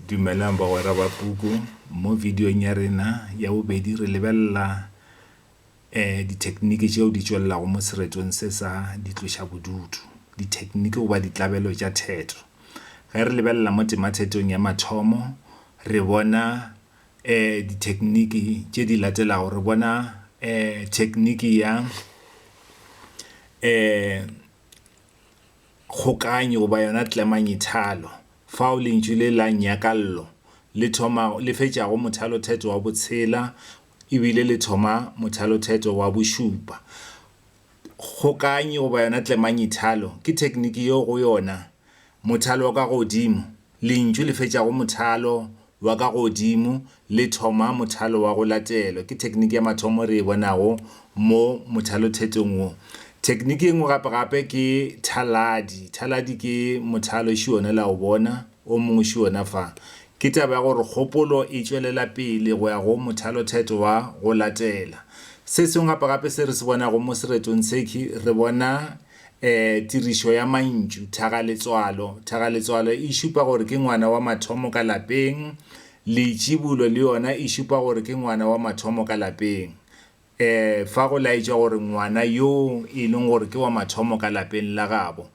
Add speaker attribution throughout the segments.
Speaker 1: Dumelang bagwera ba puku. Mo videong ya rena ya bobedi re lebelela um dithekniki tšeo di tšwelelago mo seretong se sa ditlošabodutu, dithekniki goba ditlabelo tša theto. Ge re lebelela mo temathetong ya mathomo re bona um dithekniki tše di latelago, re bona um thekniki ya um. Kgokaanyo goba yona tlemanyithalo, fao lentšu le la nyakallo le thoma le fetšago mothalothetho wa botshela e bile le thoma mothalothetho wa bošupa. Kgokaanyo goba yona tlemanyithalo ke thekniki yeo go yona mothalo wa ka godimo Lentšu le fetšago mothalo wa ka godimo le thoma mothalo wa go latelwa. Ke thekniki ya mathomo re e bonago mo mothalothetong wo. Thekniki e nngwe gape-gape ke thaladi. Thaladi ke mothalo šuona la o bona, o mongwe šuona fa. Ke taba ya gore kgopolo e tšwelela pele go ya go mothalothetho wa go latela. Se sengwe gape-gape se re se bonago mo seretong se ke re bona E, tirišo ya mantšu, thagaletswalo. Thagaletswalo e šupa gore ke ngwana wa mathomo ka lapeng. Leitšibulo le yona e šupa gore ke ngwana wa mathomo ka lapeng. E, fa go laetšwa gore ngwana yo e leng gore ke wa mathomo ka lapeng la gabo.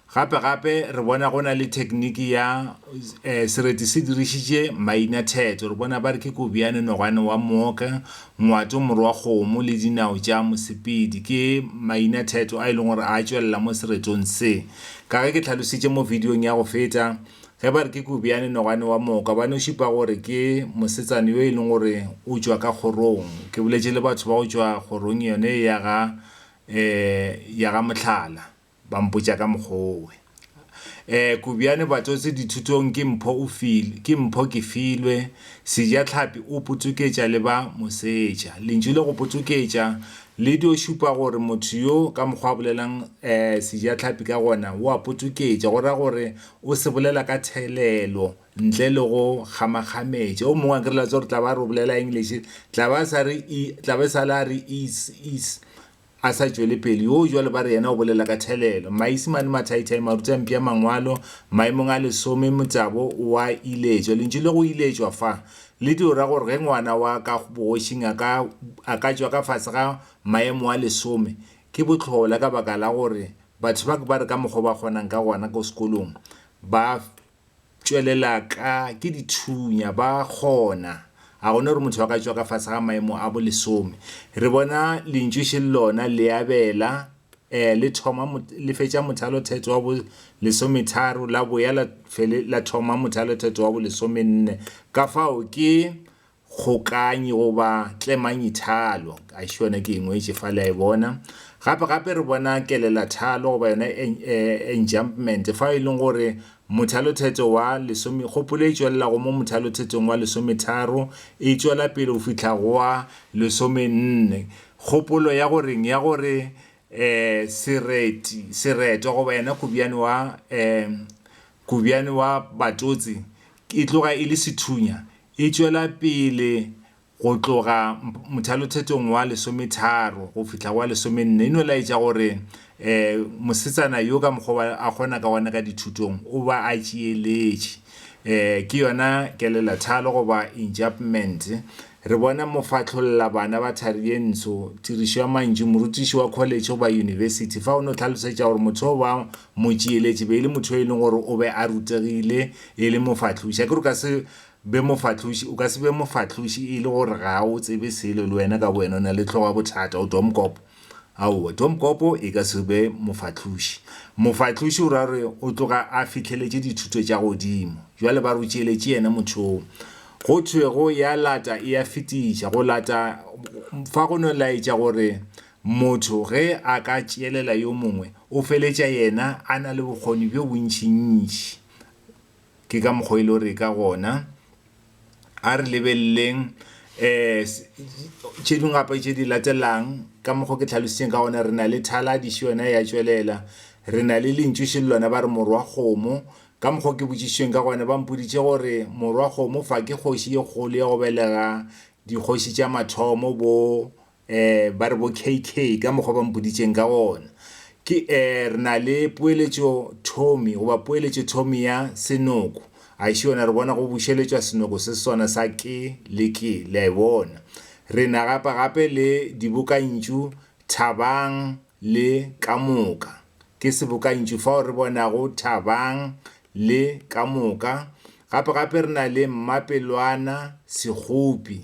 Speaker 1: Gape-gape re bona go na le thekniki ya, e, sereti se dirišitše mainathetso. Re bona ba re ke Kobjane, Nogwane wa Mooka, Ngwato, morwa kgomo le dinao tša mosepedi ke mainatheto a e leng gore a tšwelela mo seretong se. Ka ge ke tlhalositše mo vidiong ya go feta, ge ba re ke Kobjane Nogwane wa Moka ba no šupa gore ke mosetsana yo e leng gore o tšwa ka kgorong. Ke boletše le batho ba go tšwa kgorong yone ya ga, eh, ya ga Mohlala. Ba mpotša ka mokgwa owe. Eh, Kobjane Batsotsi dithutong ke mpho o filwe, ke mpho ke filwe, Sejatlhapi o potsoketša le ba mosetša. Lentšu le go potsoketša le dio šupa gore motho yo ka mokgwa a bolelang eh, Sejatlhapi ka gona o a potsoketša, go ra gore o se bolela ka thelelo ntle le go kgamakgametša. O mongwe a nkireletsa gore tla ba re o bolela English, tla ba sa re e, tla ba e sa le a re is, is. A sa tšwele pele, yoo jwale ba re yena o bolela ka thelelo. Maisimane, mathaithai, maruti a mpia Mangwalo, maemong a lesome, motabo wa iletšwa. Lentšu le go iletšwa fa le dio ra gore ge ngwana wa ka bogošing a ka, a ka tšwa ka fase ga maemo a lesome, ke bohlola ka baka la gore batho ba ke ba re ka mokgwa o ba kgonang ka gona ko sekolong ba tšwelela ka ke dithunya ba kgona ga gona gore motho ba ka tšwa ka fase ga maemo a bolesome re bona lentšu še lona le abela um le thoma le fetša mothalo theto wa bo lesometharo la boya la fele la thoma mothalo theto wa bo lesomenne ka fao ke kgokanyi goba tlemanyithalo. Gaešo yona ke e ngwetše fa le a e bona. Gape-gape re bona kelelathalo goba yona enjumpment fa e leng gore mothalothetho wa lesome, kgopolo e tšwelela go mo mothalothetong wa lesometharo e tšwela pele go fihla go wa lesomenne. Kgopolo ya go reng? Ya gore um sereti, seretwa goba yena kobjane wa um kobjane wa batotse E tloga e le sethunya, e tšwela pele go tloga mothalothetong wa lesometharo go fihla go wa lesomenne, e no laetša gore um mosetsana yo ka mokgwa wa a kgona ka gona ka dithutong o ba a tšeeletše. Um ke yona kelelathalo goba enjapment. Re bona mofahlolla bana ba thari ye ntsho, tirišo ya mantšu, morutiši wa kholetšhe goba yunibesithi, fa o no hlalosetša gore motho yo ba Motšeeletši be e le motho yo e leng gore o be a rutegile e le mofahloši. Akere o ka se be mofahloši, o ka se be mofahloši e le gore ga o tsebe selo le wena ka bowena o na le hlogo ya bothata, o domokopo. Aowa, domokopo e ka se be mofahloši. Mofahloši o ra gore o tloga a fihleletše dithuto tša godimo. Bjale ba re o tšeeletše yena motho yoo. Go thwego ya lata e a fetiša. Go lata fa go no laetša gore Motho ge a ka tšeelela yo mongwe, o feletša yena a na le bokgoni bjo bontšintši. Ke ka mokgwa e lego gore e ka gona. A re lebeleleng tše dingwe gape tše di latelalang. Ka mokgwa o ke hlalošitšeng ka gona, re na le thaladišo yona ya tšwelela. Re na le lentšu šele lona ba re morwa kgomo. Ka mokgwa o ke botšišitšweng ka gona, ba mpoditše gore morwa kgomo fa ke kgoši e kgolo ya go belega dikgoši tša mathomo bo. eh, ba re bo KK ka mokgwa ba mpoditšeng ka gona ke eh, re na le poeletšo Tommy goba poeletšo Tommy ya senoko a xe yona re bona go bušeletšwa senoko se sona sa ke le ke le a e bona re na gapa gape le dibokantšu thabang le ka moka ke sebokantšu fao re bonago thabang le ka moka gape gape re na le mmapelwana sekgopi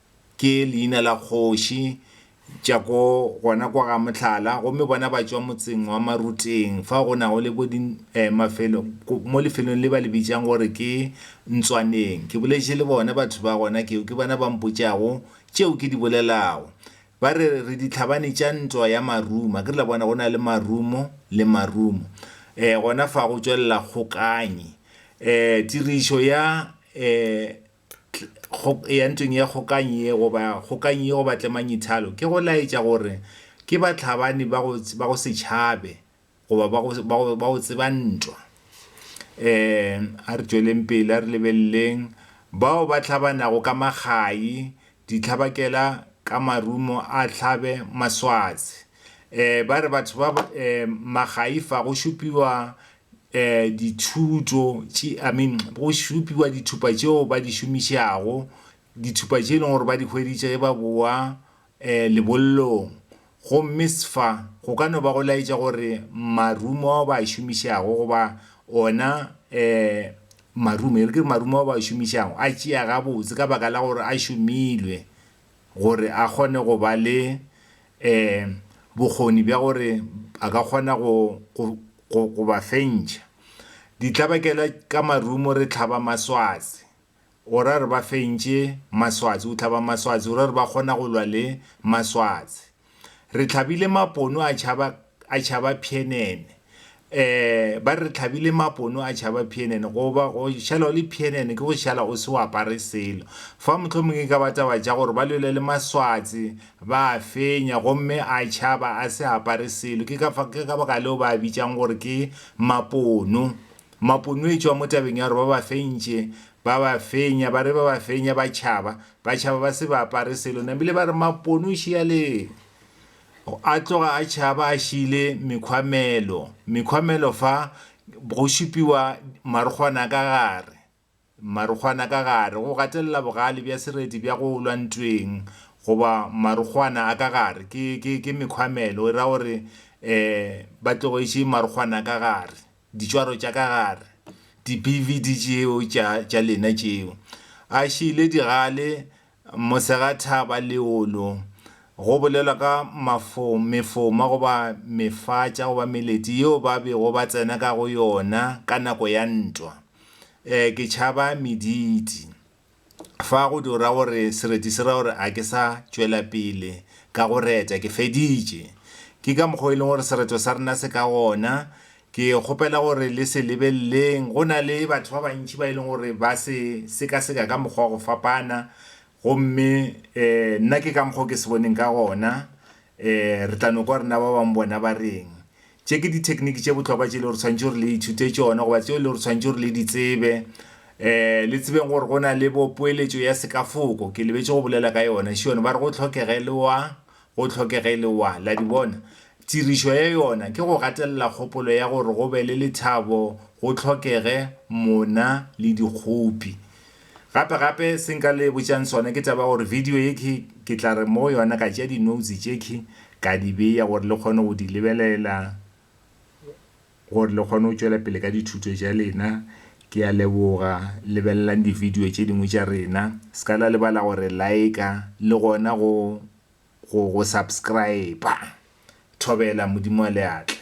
Speaker 1: Ke leina la kgoši tša ko gona kwa ga Mohlala, gomme bona ba tšwa motseng wa Maruteng, fa go nago le bo di eh, mafelo, mo lefelong le ba le bitšang gore ke Ntswaneng. Ke boletše le bona batho ba gona keo, ke bona ba mpotšago tšeo ke di bolelago. Ba re, re ditlhabane tša ntwa ya Maruma. Ke re la bona go na le Marumo le Marumo. Eh, gona fa go tšwelela kgokanyi. Eh, tirišo ya eh, ya ntweng ya kgokanyi ye goba kgokanyi ye goba tlemanyithalo ke go laetša gore ke batlhabani ba go ba go se tšhabe goba ba go ba go ba go tseba ntwa um a re tšweleng pele a re lebeleleng bao ba tlhabanago ka makgai ditlhabakela ka marumo a tlhabe maswatsi um ba re batho ba um makgaifa go šupiwa um dithuto tše I mean go šupiwa dithupa tšeo ba di šomišago, dithupa tše e leng gore ba di hweditše ge ba bowa um lebollong. Gomme sfa go ka no ba go laetša gore marumo ao ba a šomišago goba ona um marumo, e re ke re marumo ao ba a šomišago a tšea gabotse ka baka la gore a šomilwe gore a kgone go ba le um bokgoni bja gore a ka kgona go go go ba fentšha. Ditlabakela ka marumo re tlhaba maswatse gore a re ba fentše maswatse, o tlhaba maswatse gore a re ba kgona go lwa le maswatse. Re tlhabile mapono a tšhaba a tšhaba phienene eh ba re tlhabile mapono a tšhaba phienene go ba go šala o le phienene ke go šala o se o apare selo fa mohlomong e ka ba taba tša gore ba lwele le maswatsi ba a fenya gomme a tšhaba a se apare selo ke ka ke ka baka leo ba a bitšang gore ke mapono mapono e tšwa mo tabeng ya gore ba ba fentše ba ba fenya ba re ba ba fenya ba tšhaba Batšhaba ba se ba apare selo, nabile ba re Mapone o šia leng? O a tloga a tšhaba a šiile mekhwamelo. Mekhwamelo fa go šupiwa marokgwana ka gare. Marokgwana ka gare, go gatelela bogale bja sereti bja go lwa ntweng goba marokgwana a ka gare ke, ke, ke mekhwamelo. E ra gore um ba tlogetše marokgwana ka gare. ditšwaro tša ka gare, dibividi tšeo tša, tša lena tšeo. A šiile digale, mosegathaba, leolo, go bolelwa ka mafo, mefoma goba mefatša goba meleti yeo ba bego ba tsena ka go yona ka nako ya ntwa. E, ke tšhaba mediti. Fa go di ra gore sereti se ra gore a ke sa tšwela pele ka go reta, ke feditše. Ke ka mokgwa o e leng gore sereto sa rena se ka gona. Ke kgopela gore le se lebeleleng, go na le batho ba bantši ba e leng gore ba se sekaseka ka mokgwa wa go fapana, gomme nna ke ka mokgwa o ke se boneng ka gona. Re tla no kwa gore na ba bangwe bona ba reng. Tše ke dithekniki tše bohlokwa tše e lego gore tshwanetse gore le ithute tšona goba tšeo e lego gore tshwanetse gore le di tsebe. Um le tsebeng gore go na le bo poeletšo ya sekafoko, ke lebetše go bolela ka yona šione. Ba re go tlhokege le wa, go tlhokege le wa. La di bona? Tirišo ya yona ke go gatelela kgopolo ya gore go be le lethabo go tlhokege mona le dikgopi. Gape gape se nka le botšang sona ke taba ya gore video ye ke ke tla re mo yona ka tšea di notes tše ke ka di beya gore le kgone go di lebelela gore le kgone go tšwela pele ka dithuto tša lena. Ke ya leboga lebelelang di video tše dingwe tša rena se ka la lebala gore like le gona go go go subscribe. Thobela Modimo a le atle.